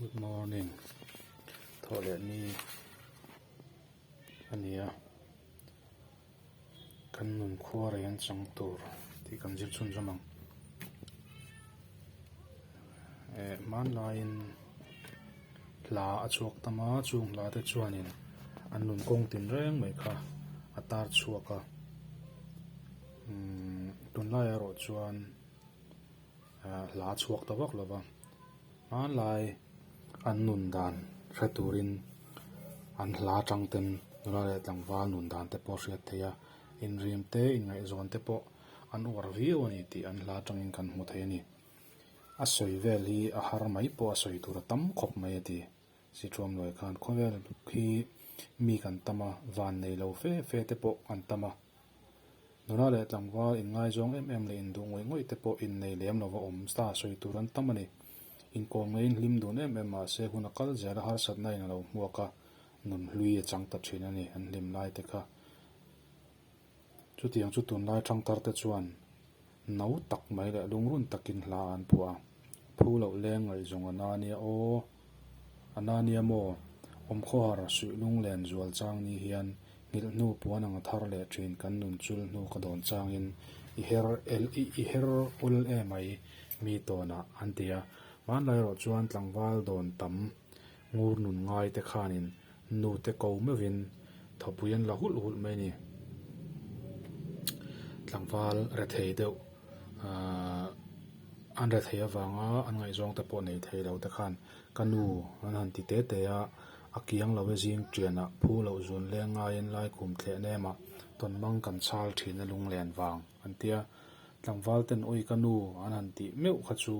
Good morning thawh leh ni a ni a kan nun khuara in chang tur tih kan zir chhun zawm ang eh hmanlai in hla a chhuak tam a chung hla te chuan in an nun kawng tin reng mai kha a tar chhuak a umm tunlai erawh chuan-- Hla chhuak ta vak lova hmanlai an nun dan hre turin an hla atang ten nula leh tlangval nun dan te pawh hriat theih a, inrim te inngaihzawn te pawh an uar viau a ni tih an hla atangin kan hmu thei a ni. A sawi vel hi a har mai pawh a sawi tura tam khawp mai a ti. Sithuam nuai khan khawvel khi mi kan tam a, van nei lo fe fe te pawh kan tam a. Nula leh tlangval inngaizawng em em leh induh ngawih ngawih te pawh innei lem lova awm ta sawi tur an tam a ni. Inkawm ngeiin hlim dun em em mahse hun a kal zel a, harsatna in a lo hmuak a, nun hlui a chang ta thin a ni an hlim lai te kha. Chutiang chu tunlai thangthar te chuan no tak mai leh lungrun takin hla an phuah a, Phu loh leng ngaihzawng a na nia aw, a na nia maw? Awm khawhar suih lung len zual chang ni hian nghilh hnu puan anga thar leh thin kan nun chul hnu ka dawn changin i her el i her ul e mai mi tawnah an ti a, hmanlai erawh chuan tlangval dawn tam Ngur nun ngaite khanin nute ko meuhin thawpui an la hulh hulh mai ni. Tlangval rethei deuh an rethei avanga an ngaihzawng te pawh nei theilo te khan ka nu an han ti te te a, a kiang lo e zing tianah phu loh zun leng ngaiin lai kum thlehna ema tawn mang kan chhal thin a lunglen vang an ti a. Tlangval ten awi ka nu an han tih meuh kha chu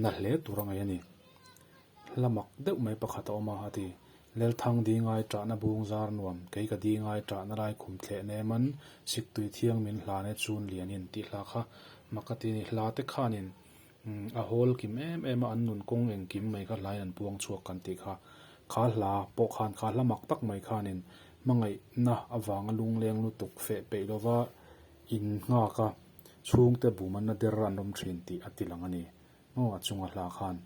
na hle tur angai a ni. Hla mak deuh mai pakhat a awm a, a ti. Lelthang ding ai trahna bung zar nuam, kei ka ding ai trahna lai khum thleh nem an, siktui thiang min hlan e chun lianin, tih hlah kha mak a ti a ni. Hla te khanin a hawl kim em em a, an nun kawng engkim mai kha hlain an puang chhuak kan tih kha. Kha hla pawh khan kha hla mak tak mai khanin hmangaihna avanga lungleng lutuk feh peih lova in nghak a, chhungte bumanna der a an awm thin tih a ti lang a ni. Aw, a chunga hla khan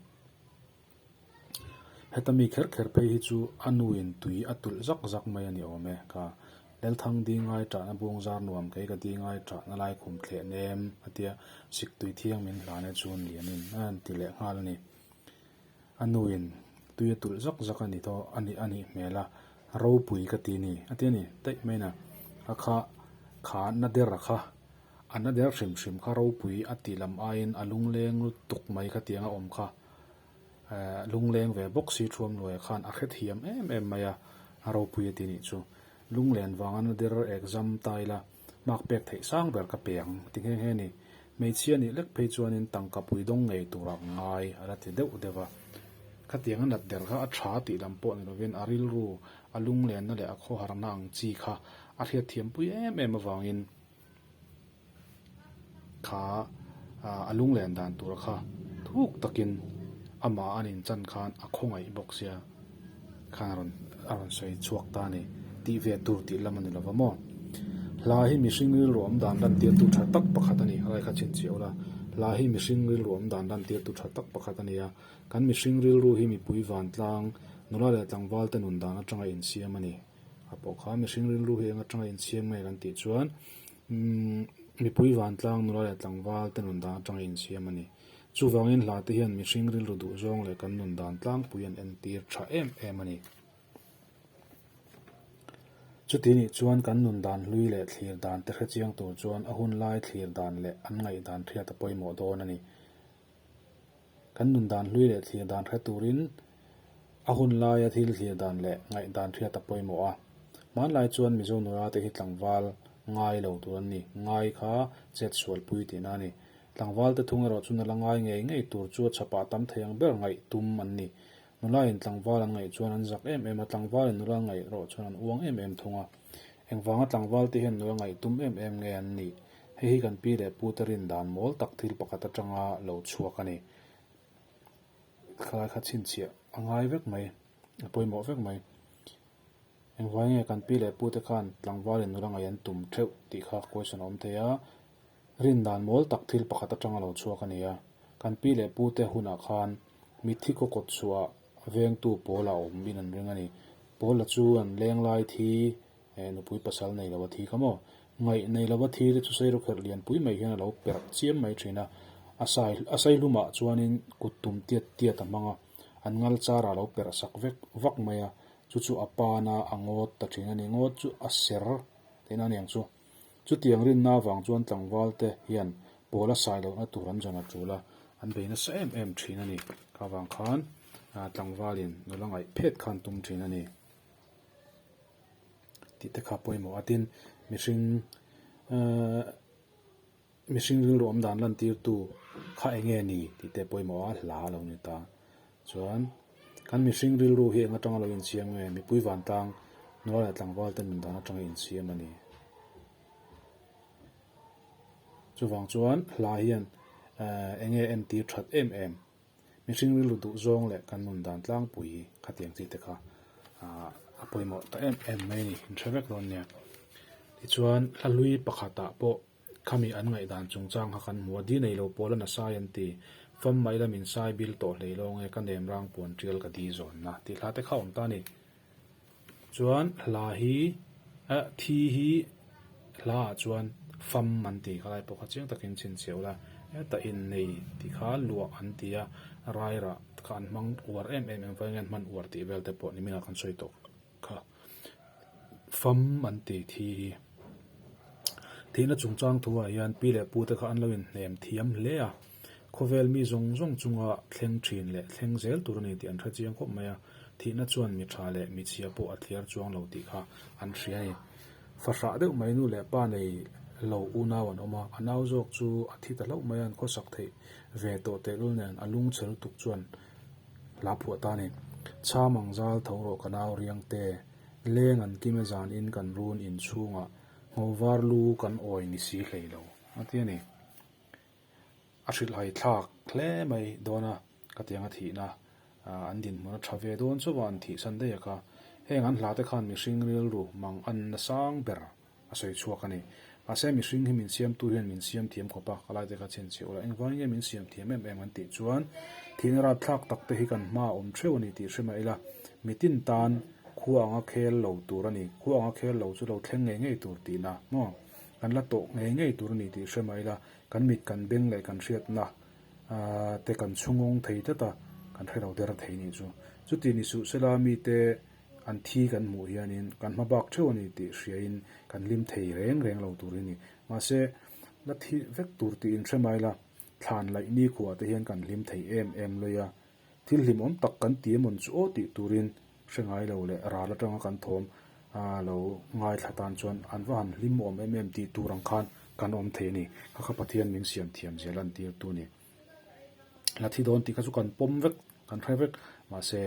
heta mi kher kher phei hi chu a nuin tui a tulh zak zak mai a ni awm e. Ka Lalthang ding ngai tahna bung zar nuam kei ka ding ngai thahna lai khum thleh nem a tia sik tui thiang min hlan e chuan lian in a han ti leh nghal a ni. A nuin tui a tulh zak zak a ni tho a ni a nih hmel a, ropui ka ti ni a tia ni, taih main a, a kha kha na der a kha A hna der hrim hrim kha ropui a tih lam aiin a lungleng lutuk mai ka tiang a awm kha ehh lungleng ve bawk si thuam luai ah khan a hrethiam em em mai a a ropui a ti nih chu lunglen vang a hna der exam ta ila mark pek theih sang ber ka pe ang ti nghe nghe ni hmeichhia nih lek phei chuanin tangka pui dawng ngei tura ngai a la ti deuh deuh a ka tiang a nat der kha a tha tih lam pawh ni lovin a rilru a lunglenna leh a khawharna ang chi kha a hriatthiam pui em em avangin kha a lunglen dan tura kha thuk takin amah an inchan khan a khawngaih bawk sia khan a rawn a rawn sawi chhuak ta a ni tih ve tur tih lam a ni lo va maw. Hla hi mihring rilru awm dan lantirtu tha tak pakhat a ni a raikha chhin chhiah ula. Hla hi mihring rilru awm dan lantirtu tha tak pakhat a ni a, kan mihring rilru hi mipui vantlang nula leh tlangvalte nun dan atanga insiam a ni. A pawh kha mihring rilru hi eng atanga insiam nge kan tih chuan umm mipui vantlang nula leh tlangval te nun dan atanga insiam a ni. Chuvangin hla te hian mihring rilru duh zawng leh kan nun dan tlangpui an entir tha em em a ni. Chuti nih chuan kan nun dan hlui leh thlir dan te hre chiang tur chuan a hun lai thlir dan leh an ngaih dan hriata pawimawh dawn a ni. Kan nun dan hlui leh thlir dan hre turin a hun laia thil thlir dan leh ngaih dan hriat a pawimawh a. Hmanlai chuan Mizo nurate hi tlangval ngai lo tur an ni, ngai kha chet sualpui tihna a ni. Tlangvalte thung erawh chu nala ngai ngei ngei tur chu a chhapah a tam thei ang ber ngaih tum an ni. Nulaiin tlangval an ngaih chuan an zak em em a, tlangvalin nula ngaih erawh chuan an uang em em thung a. Engvanga tlangvalte hian nula ngaih tum em em nge an nih? Hei hi kan pi leh puta rindan mawl tak thil pakhat atanga lo chhuak a ni. Thlai kha chhinchhiah a ngai vek mai, a pawimawh vek mai. Engvai nge kan pi leh pute khan tlangvalin nula ngaih an tum theuh tih kha question a awm thei a, Rindan mawl tak thil pakhat atang a lo chhuak a ni a, kan pi leh pu te hunah khan mithi kaw kawt suhah vengtu pawla awmin an ring a ni. Pawla chu an leng lai thi eh nupui pasal nei lova thi ka maw, ngaih nei lova thi te chu sairaw kher lian pui mai hian a lo perh chiam mai thin a. A sai a sai hlumah chuanin kut tum tiat tiat a hmang a, an ngal char a lo perh sak vek vak mai a, chu chu a pana a ngawt ta thin a ni, ngawt chu a ser thin aniang chu. Chutiang rinna avang chuan tlangval te hian ball a sai lohna tur an rawn la tul a, an bei nasa em em thin a ni. Kha vang khan tlangvalin nula ngaih phet kha an tum thin a ni tih te kha pawimawh a tin mihring ehh. Mihring ringlawm dan lantirtu kha eng nge ni tih te pawimawh a hla a lo ni ta. Chuan kan mihring rilru hi eng atanga lo insiam nge? Mipui vantlang nula leh tlangval te nun dan atanga insiam a ni. Chuvang chuan hla hian eng nge en tir that em em. Mihring rilru duhzawng leh kan nun dan tlangpui khatiang chi te kha a pawimawh ta em em mai a ni. Inhre vek dawn nia. Tichuan hla hlui pakhatah pawh. Khami an ngaihdan chungchang kha kan hmu a, di neilo pawl a na sai an ti. Fam mai la min sai bil tawh hlei lawng e, ka nem rang puan tial ka di zawn na, tih hla te kha awm ta ni. Chuan hla hi, a, thi hi hla ah chuan fam an ti kha lai pawh kha chiang takin chhinchheuh la, heta innei tih kha luah an ti a, raira kha an hmang uar em em em avangin an hman uar tih vel te pawh nimin ah kan sawi tawh. kha fam an ti thi hi thihna chungchang thuah hian pi leh pu te kha an lo in hnem thiam hle a, khawvel mi zawng zawng chunga thleng thin leh thleng zel tur a ni tih an hre chiang khawp mai a, thihna chuan mi tha leh mi chhia pawh a thliar chuang lo tih kha an hria a ni. Fa hrah deuh mai nu leh pa nei lo unau an awm a, a nau zawk chu a thi ta hlauh mai a, an khawsak theih ve tawh tehlul nen a lung che lutuk chuan, Hlahphuah ta ni. Chham ang zal tho rawh ka nau riang te. Leng an kima zan in kan run in chhung ah ngo var lu kan awi ni si hlei lo. Atia ni. A hrilh hai thlak hle mai dawn a ka tiang a thih na an din hmun a tha ve dawn chauh a an thih san daih a kha. Heng an hla te khan mihring rilru mang an na sang ber. a sawi chhuak a ni. Mahse, mihring hi min siamtu hian min siam thiam khawp a, ka lai te kha chhin chhe ula, engvang nge min siam thiam em em kan tih chuan, Thihna rat thlak tak te hi kan hma awm theuh a ni tih hre mah ila, mitin tan khua anga khel lo tur a ni, khua anga khel lo chu lo thleng ngei ngei tur tihna maw? Kan la tawh ngei ngei tur a ni tih hre mah ila, kan mit kan beng leh kan hriatna te kan chhungawng thei tlat a, kan hrelo der thei nih chu. Chutih ni suh sela mite. An thi kan hmuh hianin kan hma bak theuh a ni tih hriain kan hlim thei reng reng lo tur hi ni. Mahse, la thi vek tur tiin hremai la, thlan laih nikhua te hian kan hlim thei em em lawih a. Thil hlim awm tak kan ti emawn chu aw tih turin hre ngai lo leh ral atanga kan thawm a lo ngaithla tan chuan an va han hlim awm em em tih tur ang khan kan awm thei a ni. Kha kha Pathian min siam thiam zel a, an tirtu a ni. la thi dawn tih kha chu kan pawm vek kan hre vek mahse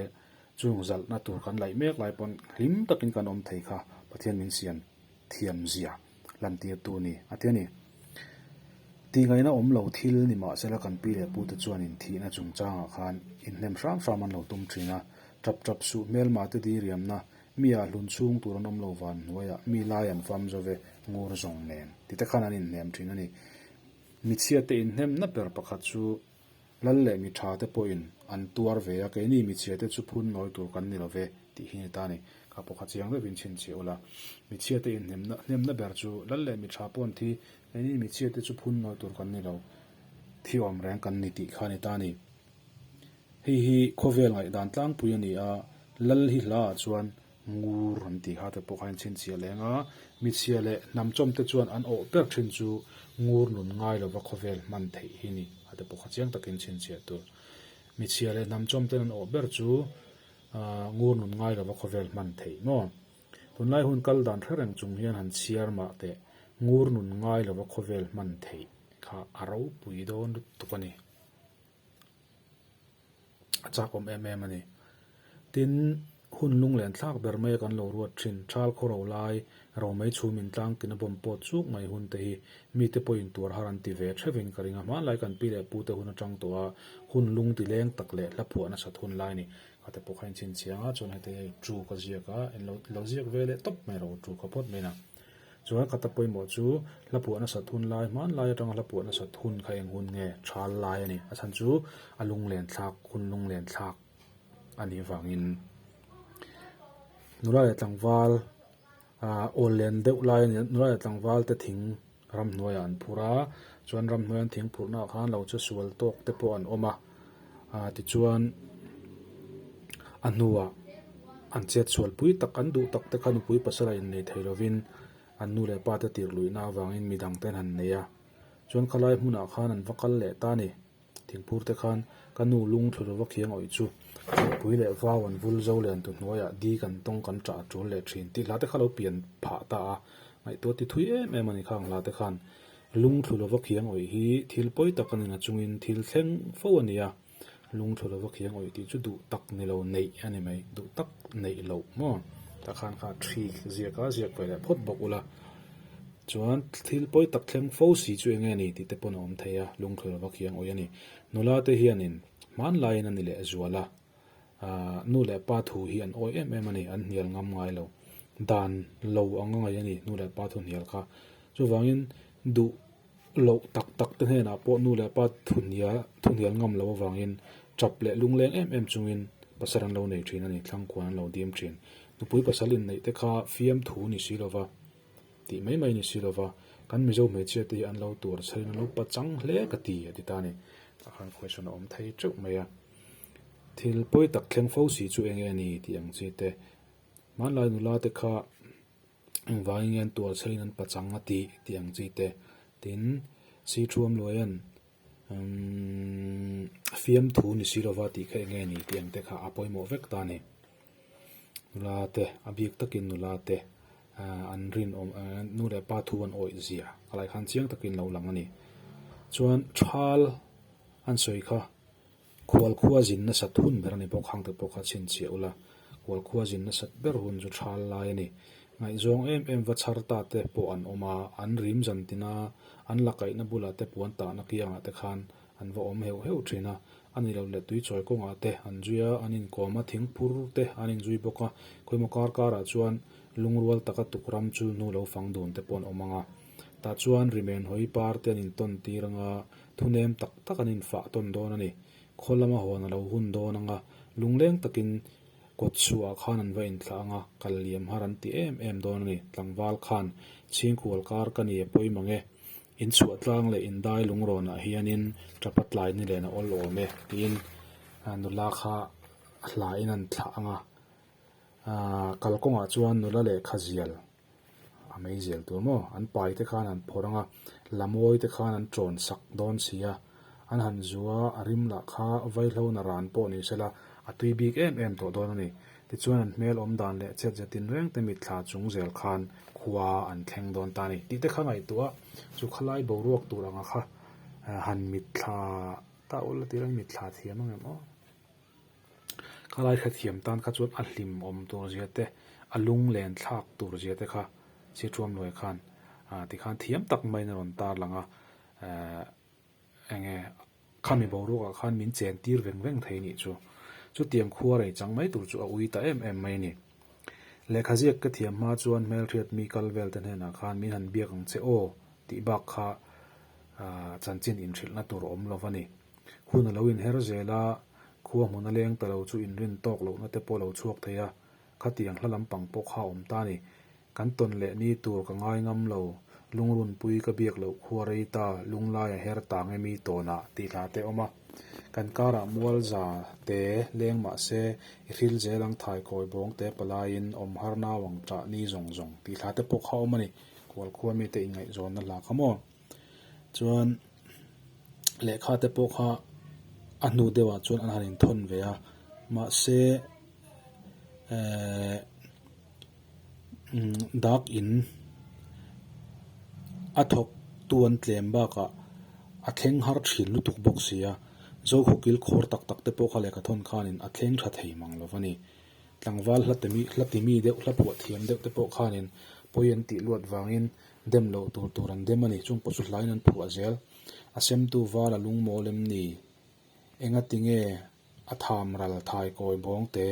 chung zalhna tur kan laih mek lai pawn hlim takin kan awm thei kha Pathian min siam thiamzia lantirtu ni a tia ni. Tihngaihna awm lo thil ni mahse la kan pi leh pute chuanin thihna chungchangah khan inhnem hram hram an lo tum thin a, ṭap ṭap suh hmel mah te diriamna, mi ah hlun chhung tur an awm lo van hnuaiah mi lai an fam zo ve ngur zawng nen tite khan an inhnem thin a ni. Hmichhia te inhnem na ber pakhat chu Lal leh mi tha te pawhin an tuar ve a, keini hmichhia te chu phun ngawi tur kan ni lo ve tih hi ni ta ni. Kha pawkha chiang reuhin chhin chhe ula, hmichhia te inhnem na hnem na ber chu Lal leh mi tha pawn thi keini hmichhia te chu phun ngawi tur kan ni lo, thi awm reng kan ni tih kha ni ta ni. Hei hi khawvel ngaih dan tlangpui a ni a, Lal hi hla ah chuan Ngur an tih kha te pawh kha in chhinchhiah leh ang a, Mitchhia leh hnamchawmte chuan an awh ber thin chu ngur nun ngai lova khawvel hman theih hi ni a te pawh kha chiang takin chhinchhiah tur Mitchhia leh hnamchawmten an awh ber chu ngur nun ngai lova khawvel hman theih maw? Tunlai hun kal dan hre reng chung hian han chhiar mah teh ngur nun ngai lova khawvel hman theih kha a ropui dawn lutuk a ni. a chakawm em em a ni. Tin, hun lunglen thlak ber maia kan lo ruat thin, ṭhal khaw ro lai, ro mei chhum intlang tina bawm pawt chuk mai hunte hi mite pawh in tuar har an ti ve ṭhevin ka ring a, hmanlai kan pi leh pute hun aṭang tawh a, hun lung ti leng tak leh hla phuah nasat hun lai a ni. Ka te pawh kha in chhinchhiang a, chuan hete chu ka ziak a, in lo ziak ve leh tawp mai ro chu ka phawt mai in a. Chuan Kata pawimawh chu hla puah nasat hun lai hmanlai atanga hla puah nasat hun kha eng hun nge? Thal lai a ni. A chhan chu a lunglentlak hun lunglentlak a nih vangin nula leh tlangval ah awl len deuh lai a ni. Nula leh tlangval te thing ramhnuaiah an phur a, chuan ramhnuaiah an thing phurhnaah khan lo che sual tawk te pawh an awm a. Aa tichuan a hnuah an chhiat chhual pui tak an duh tak te kha nupui pasal a innei thei lovin an nu leh pate tirhluihna avangin midang te an han nei a. Chuan khalai hmunah khan an va kal leh ta a ni. Thingphur te khan ka nu lung thlu lo va khiang awih chu. Nupui leh vau an vul zo lian tu hnuaia di kan tawng kan tah a tul leh thin tih hla te kha lo pian phah ta a. Ngaihtuah tithui em em a ni khang hla te khan. Lungthlu lova khiang awih hi thil pawi tak a ni na chungin thil thleng fo a nia, lungthlu lova khiang awih tih chu duh tak ni lo neih a ni mai, duh tak neih loh maw? Tah khan kha ṭhi ziaka ziak ve leh phawt bawk ula, chuan thil pawi tak thleng fo si chu enge a ni tih te pawn a awm thei a, lungthlu lova khiang awih a ni. Nula te hianin hmanlaiin a ni leh zual a. Ahh, nu leh pa thu hi an awi em em a ni, an hnial ngam ngai lo. Dan lo anga ngaih a ni nu leh pa thuhnial kha. Chuvangin duh loh tak tak te hnenah pawh nu leh pa thuhnial, thuhnial ngam lo avangin ṭap leh lungleng em em chungin pasal an lo nei ṭhin a ni, thlangkuan an lo dim ṭhin. Nupui pasal inneih te kha fiam thu ni si lova, tih mai mai ni si lova, kan Mizo hmeichhia te hi an lo tuar chhel in an lo pachang hle ka ti, a ti ta a ni. Khawihna awm thei ṭeuh mai a. Thil pawi tak thleng fo si chu enge a ni tih ang chi te. Hmanlai nula te kha engvangin nge an tualchhe in an pachang a tih tih ang chi te. Tin, Sithuam Luaia'n umm fiamthu ni si lova tih kha enge a ni tih ang te kha a pawimawh vek ta a ni. Nula te, a bik takin nula te aah an rinawm eeh nu leh pa thu an awih zia a lai khan chiang takin lo lang a ni. Chuan thal an sawi kha. Khualkhua zin nasat hun ber a ni bawk, hangte pawh kha chhinchhiah ula, khualkhua zin nasat ber hun chu thal lai a ni. Ngaihzawng em em va chhar ta te pawh an awm a, an rim zan tin a, an la kaihna bulah te puan tahna kiangah te khan an va awm heuh heuh thin a, a ni lo leh tui chawi kawngah te an zui a, an inkawm a, thing phur te an inzui bawk a, khawimawh kar karah chuan lungrual taka tukram chulhnu lo fang dun te pawh an awm ang a, tah chuan rimen hawi par te an intawn tir ang a, Thulem tak tak an infah tawn dawn a ni. Khaw lama huan a lo hun dawn ang a, lungleng takin kawt suhah khan an va inthlah ang a, kal liam har an ti em em dawn a ni. Tlangval khan, Chhingkual kar ka ni a pawimawh nge? Inchhuahtlang leh indai lungrawnah hianin Tapa tlai ni lena awl awm e, tiin nula kha hlaiin an thlah ang a. Kalkawngah chuan nula leh khazial. A mei zel tur maw? An pai te khan an phawrh ang a, Lamawi te khan an ṭawn sak dawn si a, an han zu a, a rim lah kha vaihlo na ran pawh ni sela a tui bik em em tawh dawn a ni. Tichuan an hmel awm dan leh chhet zet in reng te mitthla chung zel khan khua an thleng dawn ta ni tih te kha ngaihtuah a, chu khalai boruak tur anga kha han mitthla ta ula tirang mitthla thiam ang em aw. Khalai hrethiam tan kha chuan a hlim awm tur zia te, a lung len thlak tur zia te kha Sichuamnuai khan a ti khan thiam tak maiin a rawn tar lang a, Aa enge kha mi boruakah khan min chen tir veng veng thei nih chu, chutiang khua rei chang mai tur chu a ui ta em em mai ni. Lehkha ziak ka thiam hma chuan hmelhriat mi kal vel te hnenah khan min han biak ang che aw tih bak kha chanchin inhrilhna tur awm lo va ni. Hun a lo inher zel a, khua hmun a leng ta lo chu inrin tawk lohna te pawh lo chhuak thei a, khatiang hla lampang pawh kha awm ta ni. Kan tawn leh ni tur ka ngai ngam lo, lungrunpui ka biak loh khua rei ta, lunglai a her tang em i tawnah tih hla te awm a. Kan karah mualza te leng mah se i hril zel ang thaikawi bawng te palaiin awm har nau ang chah ni zawng zawng tih hla te pawh kha awm a ni. Kual khua mite inngaihzawnna hla kha maw? Chuan lehkha te pawh kha a hnu deuhah chuan an han inthawn ve a, mahse ehh dak in a thawk tu an tlem bakah a thleng har thin lutuk bawk si a, Zoho kil khawr tak tak te pawh kha lehkha thawn khanin a thleng tha thei mang lo va ni. Tlangval hla ti mi deuh hla puah thiam deuh te pawh khanin pawi an tih luat vangin. Dem loh tur tur an dem a ni, chung pawh chu hlaiin an phuh a zel. A semtu vala lung maw lem ni? Enga tinge a tham ral thaikawi bawng te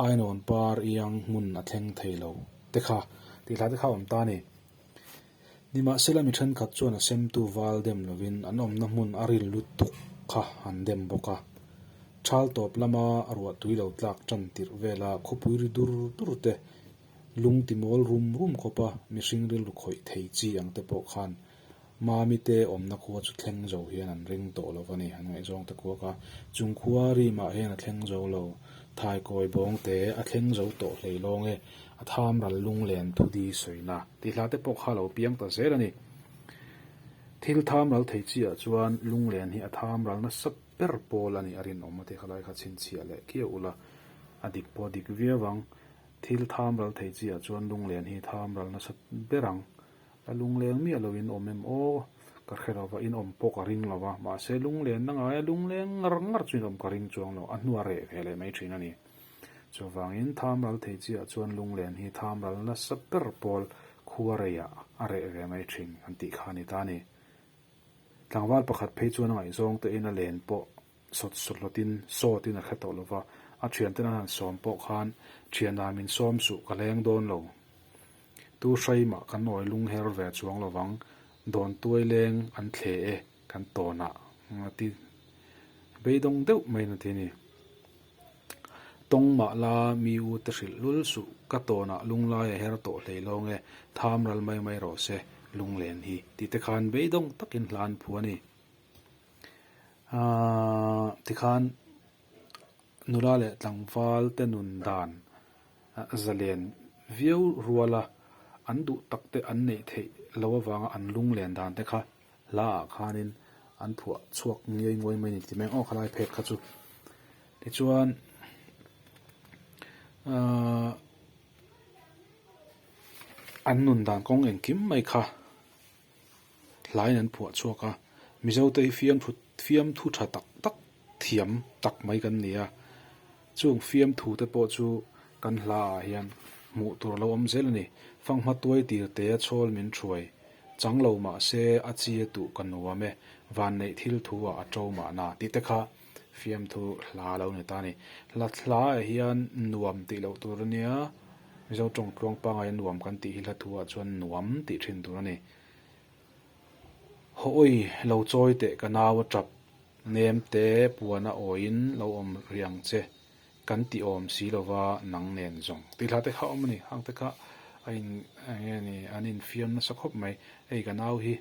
ainawn par iang hmun a thleng thei lo te kha? Tihlai te kha a awm ta a ni. Nimahsela mi thenkhat chuan a semtu val dem lovin an awmna hmun a ril lutuk kha an dem bawk a. Chal tawp lama ruah tui lo tlak tan tirh vela khawpui ri dur dur te Lungti mawl rum rum khawpa mihring rilru khawih thei chi ang te pawh khan Mami te awmna khua chu thleng zo hian an ring tawh lo va ni, an ngaihzawng te kuak a. Chung khua rimah hian a thleng zo lo, thaikawi bawng te a thleng zo tawh hlei lawng e, a tham ral lunglen thudi sawina tihla te pawh kha lo piang ta zel a ni. Thil tham ral thei chiah chuan lunglen hi a tham ral nasa ber pawl a ni, a rinawm a tih kha lai kha chhinchhiah leh kiau ula a dik pawh a dik viau ang. Thil tham ral thei chiah chuan lunglen hi tham ral nasa ber ang. Ka lungleng miah loin awm em aw, ka hre lo va, inawm pawh ka ring lo a, mahse lunglenna ngaia lungleng ngar ngar chu inawm ka ring chuang lo, a hnua reh ve leh mai thin a ni. Chuvangin tham ral thei chiah chuan lunglen hi tham ral nasa ber pawl khua reiah a reh ve mai thin kan tih kha a ni ta a ni. Tlangval pakhat phei chuan a ngaihzawng tein a len pawh sawt suhlawtin, sawtin a hre tawh lo va, a thianten a han sawm pawh khan thianah min sawm suh ka leng dawn lo. Tu hraim ah kan awi lung her ve chuang lo vang, dawntuai leng an thle e kan tawn a a ti beidawng deuh maiin a ti a ni. Tawng mah la mi u te hrilh lul suh ka tawn a lunglai a her tawh hlei lawng e, tham ral mai mai rawh se lunglen hi ti te khan beidawng takin hlan phu a ni. Aaa tikhan nula leh tlangval te nun dan zalen viau ruala an duh tak te an neih theih lo avanga an lung len dan te kha hla ah khanin an phuah chhuak ngiai nguai mai ni tim e aw khalai phet kha chu tichuan aaa an nun dan kawng engkim mai kha. hlaiin an phuah chhuak a, Mizote hi fiamthu fiamthu tha tak tak thiam tak mai kan ni a, chung fiamthu te pawh chu kan hla ah hian hmuh tur a lo awm zel a ni. Fanghma tuai tir te a chawl min hruai chang lo mah se a chi a tuh ka nuam e, vanneih thil thu ah a to mah na tih te kha. Fiamthu hla a lo ni ta a ni. Hla thla ah hian nuam tih loh tur a nia. Mizo tawng tluang pangai a nuam kan tih hi hla thu ah chuan nuam tih thin tur a ni. Haw awi lo chawi teh ka nau a tap, nem te puan a awi in lo awm rih ang che kan ti awm si lo va, nang nen zawng. Tih hla te kha a awm a ni. Hang te kha a in eng nge ni an infiam nasa khawp mai. Hei ka nau hi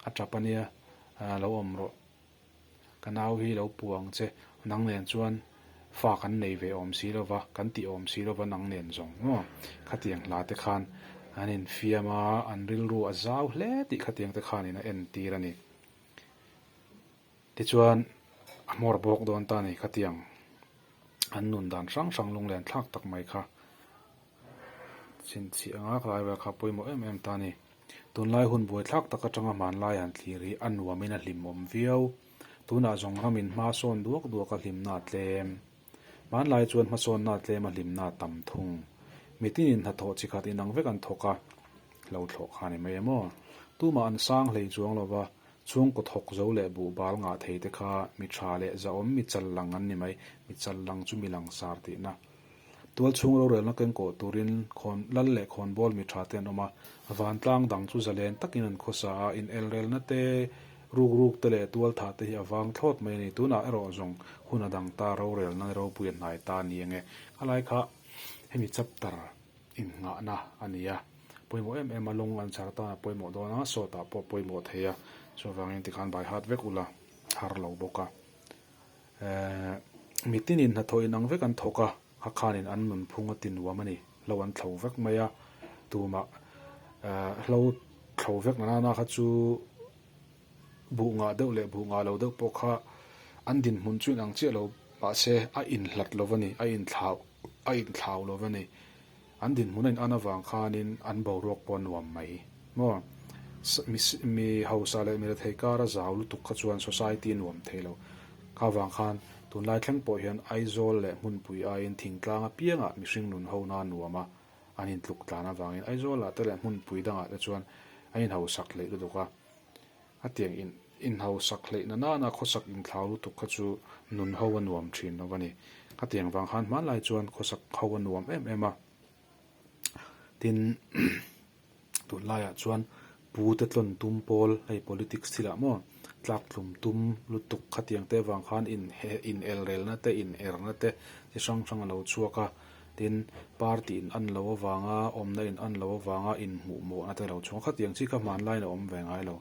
a tap a nia, lo awm rawh. Ka nau hi lo pu ang che, nang nen chuan fa kan nei ve awm si lo va, kan tih awm si lo va nang nen zawng maw? Khatiang hla te khan an infiam a, an rilru a zau hle tih khatiang te khanin a entir a ni. Tichuan a hmawr bawk dawn ta a ni khatiang an nun dan hrang hrang lunglen thlak tak mai kha. Chhinchhih anga ka laivel kha pawimawh em em ta ni. Tunlai hun buaithlak tak atanga hmanlai han thlir hi a nuamin a hlim awm viau. Tunah zawng kha min hmasawn duak duak a hlimna a tlem. Hmanlai chuan hmasawnna a tlem a hlimna a tam thung. Mitin in hnathawh chi khat inang vek an thawk a, hlothlawh kha a ni mai em aw. Tumah an sang hlei chuang lo va, chhungkaw thawk zo leh buhbal ngah thei te kha mi tha leh zahawm mi chal lang an ni mai, mi chal lang chu mi langsar tihna. Tualchhung rorelna kengkawh turin khawn lal leh khawn bawl mi tha te an awm a, vantlang dang chu zalen takin an khaw sa a, inelrelna te, rukruk te leh tual tha te hi a vang thlawt mai a ni. Tunah erawh zawng hun a dang ta, rorelna nge ropui a hnai ta ni eng e? A lai kha hemi chapter innghahna a ni a, pawimawh em em a, lawng an chhar tana pawimawh dawn a, sawtah pawh pawimawh thei a, chuvangin tikhan baihat vek ula har lo bawk a. Ehh, mitin in hnathawh in ang vek an thawk a, kha khan in an nunphung a ti nuam a ni, hlo an thlo vek mai a, tumah ehh hlo thlo vek na nana kha chu buh ngah deuh leh buh ngah lo deuh pawh kha an dinhmun chu in ang chiah lo, mahse a inhlat lo va ni, a inthlau, a inthlau lo va ni. An dinhmun a in'an avang khanin an boruak pawh a nuam mai maw? Mi hausa leh mi rethei kara zau lutuk kha chuan society a nuam thei lo. Kha vang khan tunlai thleng pawh hian Aizawl leh hmunpui aiin thingtlang apiang ah mihring nun ho na nuam a an intluk tlan avangin Aizawla te leh hmunpui dangah te chuan an inhausak leh lutuk a. A tiang in inhausak hleihna nana khawsak inthlau lutuk kha chu nun ho a nuam thin lo va ni. Ka tiang vang han hmanlai chuan khawsak ho a nuam em em a. Tin, tunlaiah chuan pute tlawn tum pawl hei politics thila maw tlak tlum tum lutuk khatiang te vang khan in he inelrelna te in erna te chi hrang hrang a lo chhuak a. tin, party in an lo avanga, awmna in an lo avanga inhmuh mawh na te lo chhung khat ang chi kha hmanlai in a awm ve ngai lo.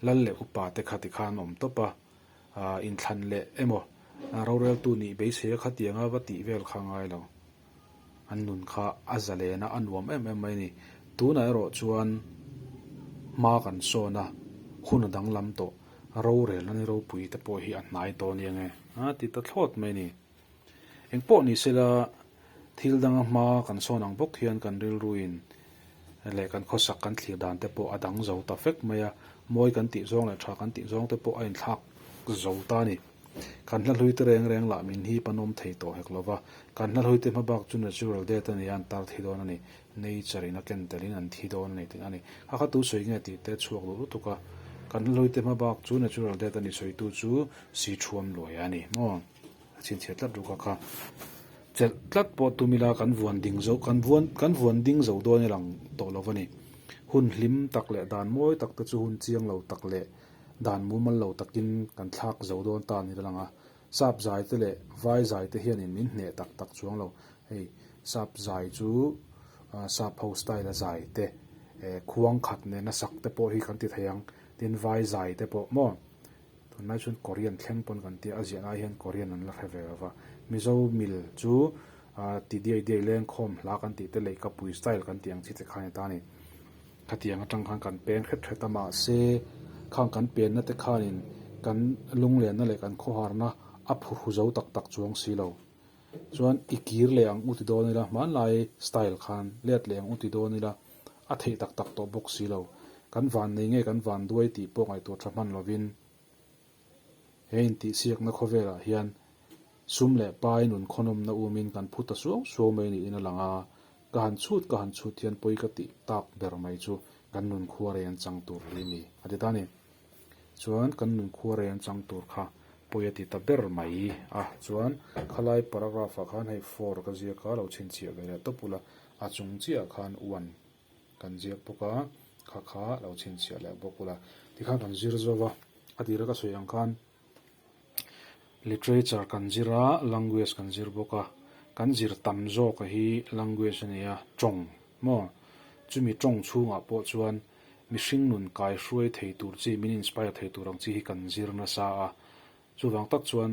Lal leh upa te kha ti khan awm tawp a, aah inthlan leh emaw roreltu nih beisei a kha ti ang a va tih vel kha ngai lo. An nun kha a za len a, a nuam em em mai a ni. Tunah erawh chuan hma kan sawn a, hun a danglam tawh, rorel na ni ropui te pawh hi a hnai tawh a nia nge? Aa ti ta thlawt mai a ni. Engpawh ni sela, thil danga hma kan sawn ang bawk hian kan rilruin leh kan khawsak kan thlir dan te pawh a dang zo ta fek mai a. Mawi kan tih zawng leh tha kan tih zawng te pawh a inthlak zo ta a ni. Kan hlahlute reng reng lah min hi pahnawm thei tawh hek lo va. Kan hlahlute hma bak chu natural death a ni a, an tar thi dawn a ni, nature in a ken telin an thi dawn a ni tih a ni. Kha kha tu sawi nge tih te chhuak duh lutuk a. Kan hlahlute hma bak chu natural death a ni sawitu chu si thuam luai a ni maw? A chhinchhiat tlat ruka kha chelh tlat pawh tum ila kan vuan ding zo kan vuan kan vuan ding zo dawn i lang tawh lo a ni. Hun hlim tak leh dan mawi tak te chu hun chiang lo tak leh dan mumal lo takin kan thlak zo dawn ta ni lo lang a. Sap zai te leh vai zai te hianin min hneh tak tak chuang lo. Hei sap zai chu sap ho style a zai te khuang khat nena sak te pawh hi kan ti thei ang tin vai zai te pawh maw Tunlai chuan Korean thleng pawn kan tia, a ziah lai hian Korean an la hre ve lo va. Mizo mil chu aah ti diai diai lengkhawm hla kan tih te lei kapui style kan tih ang chi te kha a ni ta a ni. Khatiang atang khan kan peng hret hret a mahse khang kan penna te khanin kan lunglenna leh kan khawharna a phuhru zo tak tak chuang si lo. Chuan i kir leh ang u ti dawn ila, hmanlai style khan let leh ang u ti dawn ila. a theih tak tak tawh bawk si lo. Kan van nei nge kan van duai tih pawh ngaihtuah tha hman lovin, he intihsiakna khawvelah hian Sum leh Pai nun khawnawmna umin kan phu ta suau suau mai niin a lang a, ka han chhut ka han chhut hian pawi ka tih tak ber mai chu kan nun khuarei an chang tur hle a ni, a ti ta a ni. Chuan kan nun khuarei an chang tur kha pawi a ti ta ber mai a. Chuan khalai paragraph ah khan hei for ka ziak a, lo chhinchhiah ve leh tawp ula, a chung chiahah khan one kan ziak bawk a, kha kha lo chhinchhiah leh bawk ula tikhan kan zir zo va, a tira ka sawi ang khan. Literature kan zir a, language kan zir bawk a, kan zir tam zawk a hi language a nia, tawng maw? Chumi tawng chhungah pawh chuan mihring nun kaihruai thei tur chi, min inspire thei tur ang chi hi kan zir nasa a, chuvang tak chuan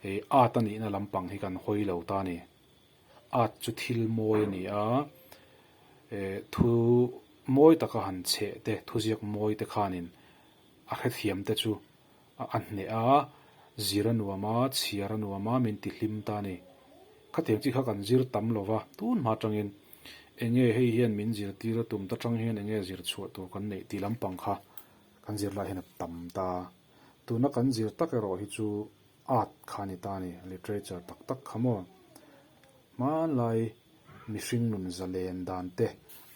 hei art a nihna lampang hi kan hawi lo ta a ni. Art chu thil mawi a ni a, eh thu mawi taka han chheh te, thuziak mawi te khanin, A hrethiam te chu a a hneh a, zir a nuam a, chhiar a nuam a min ti hlim ta ni. Khatiang chi kha kan zir tam lo va, tun hma atangin eng nge hei hian min zirtir a tum ta chang hian eng nge zir chhuah tur kan neih tih lampang kha kan zir lai hian a tam ta. Tuna kan zir tak erawh hi chu art kha a ni ta ni, literature tak tak kha maw. Hmanlai mihring nun zalen dan te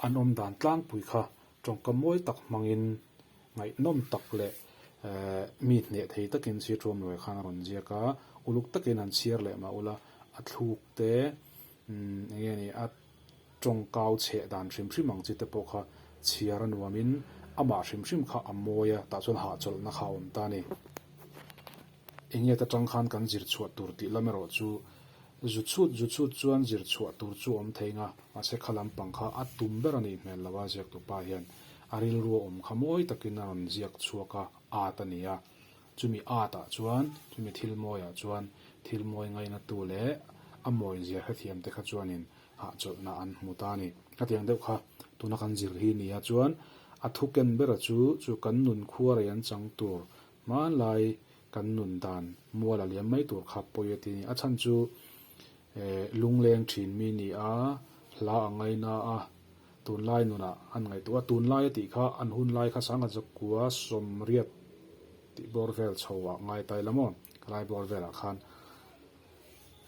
an awm dan tlangpui kha Tawngka mawi tak hmangin ngaihnawm tak leh mi hneh thei takin Siatruam Luai khan a rawn ziak a, uluk takin an chhiar leh mah ula a thluk te, eng nge ni, a tawngkau chheh dan hrim hrim ang chi te pawh kha chhiar a nuamin amah hrim hrim kha a mawi a, tah chuan hahchawlhna kha a awm ta a ni. Enge ta tang khan kan zir chhuah tur tih lam erawh chu zu chhut zu chhut chuan zir chhuah tur chu awm thei nga, mahse kha lam pang kha a tum ber a nih hmel lo a, ziaktu pa hian a rilru a awm kha mawi takin a rawn ziak chhuak a, ât a ni a, chumi âtah chuan, chumi thil mawiah chuan thil mawi ngaina tu leh a mawi zia hrethiam te kha chuanin hahchawlhna an hmu ta a ni. Hetiang deuh kha tuna kan zir hi nia chuan a thuken bera chu chu kan nun khuarei an chang tur Hmanlai kan nun dan mual a liam mai tur khap pawia ti ni. A chhan chu eh lungleng thin mi ni a, hla a ngai na a, tunlai nunah an ngaih tu a, tunlaia tih kha an hun lai kha sanga zakua sawmriat tih bawr vel chho ah ngai tai la maw, helai bawr vel ah khan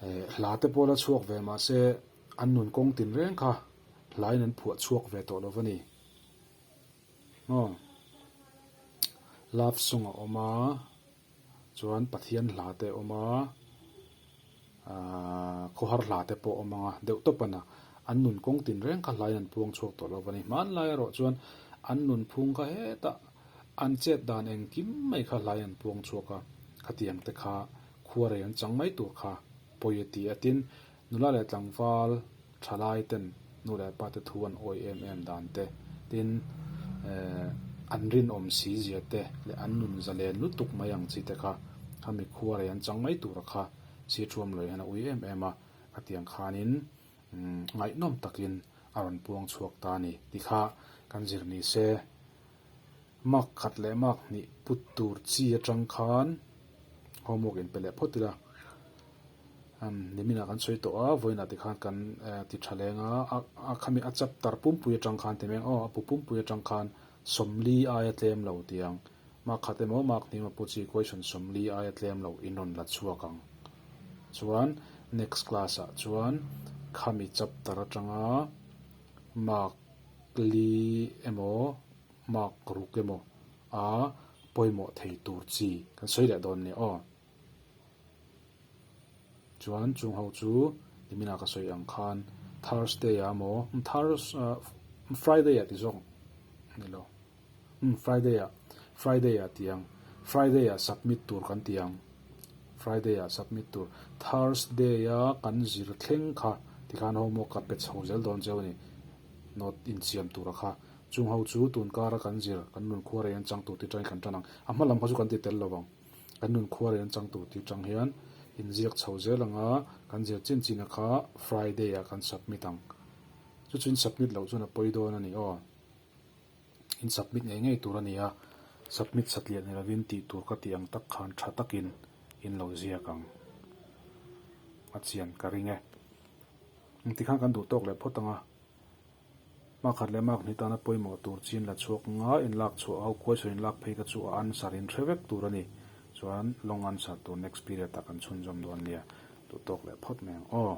eh hla te pawh la chhuak ve mahse an nun kawng tin reng kha hlain an phuah chhuak ve tawh lo va ni. Aw, love song a awm a, chuan Pathian hla te a awm a, aah khawhar hla te pawh a awm ang a, deuh tawp a na, an nun kawng tin reng kha hlaiin an puang chhuak tawh lo va ni. Hmanlai erawh chuan an nun phung kha heta an chet dan engkim mai kha hlaiin an puang chhuak a, khatiang te kha khuarei an chang mai tur kha pawi a ti a, tin Nula leh tlangval tha lai ten nu leh pa te thu an awi em em dan te, tin eh an rinawm si zia te leh an nun za len lutuk mai ang chi te kha kha mikhua rei an chang mai tur a kha si thuam lo hian a ui em em a, ka tiang khan in umm ngaihnawm tak in a rawn puang chhuak ta a ni ti kha kan zir ni se. Mark khat leh mark hnih put tur chi atang khan homework in pe leh phawt ila an nimin ah kan sawi tawh a, vawiin ah tikhan kan ti tha leng a, a khami a chapter pumpui atang khan ti meng aw a pu pumpui atang khan sawmli aia tlem lo ti ang mark khat emaw mark hnih emaw pu chi question sawmli aia tlem lo in rawn la chhuak ang chuan next class ah chuan khami chapter atanga mark Kli emaw mak ruk emaw a pawimawh thei tur chi kan sawi leh dawn nia aw. Chuan chung ho chu Nimina ka sawi ang khan Thursday-a maw, Thurs, Friday-a ti zawk ni lo. Umm Friday ah Friday ah ti ang Friday ah submit tur kan ti ang Friday ah submit tur Thursday a kan zir thleng kha tikhan homework ka pe chho zel dawn cheu a ni note insiam tura kha chung ho chu tun kara kan zir kan nun khuarei an chang tur tiatangin kan tan ang a hma lam kha chu kan ti tel lovang kan nun khuarei an chang tur tiatang hian in ziak chho zel ang a kan zir chin chin a kha Friday ah kan submit ang chu chin submit loh chuan a pawi dawn a ni aw. in submit ngei ngei tur a ni a, submit satliah ni lovin tih tur ka tih ang tak khan tha takin in lo ziak ang a chian ka ring e. Engti khan kan duh tawk leh phawt ang a, makkhat leh makhni tana pawimawh tur chin la chhuak ngai in lak chhuah ho kuaisawn in lak phei ka chu a answer in hre vek tur a ni, chuan long answer tur next period ah kan chhunzawm dawn nia, duh tawk leh phawt mai ang aw.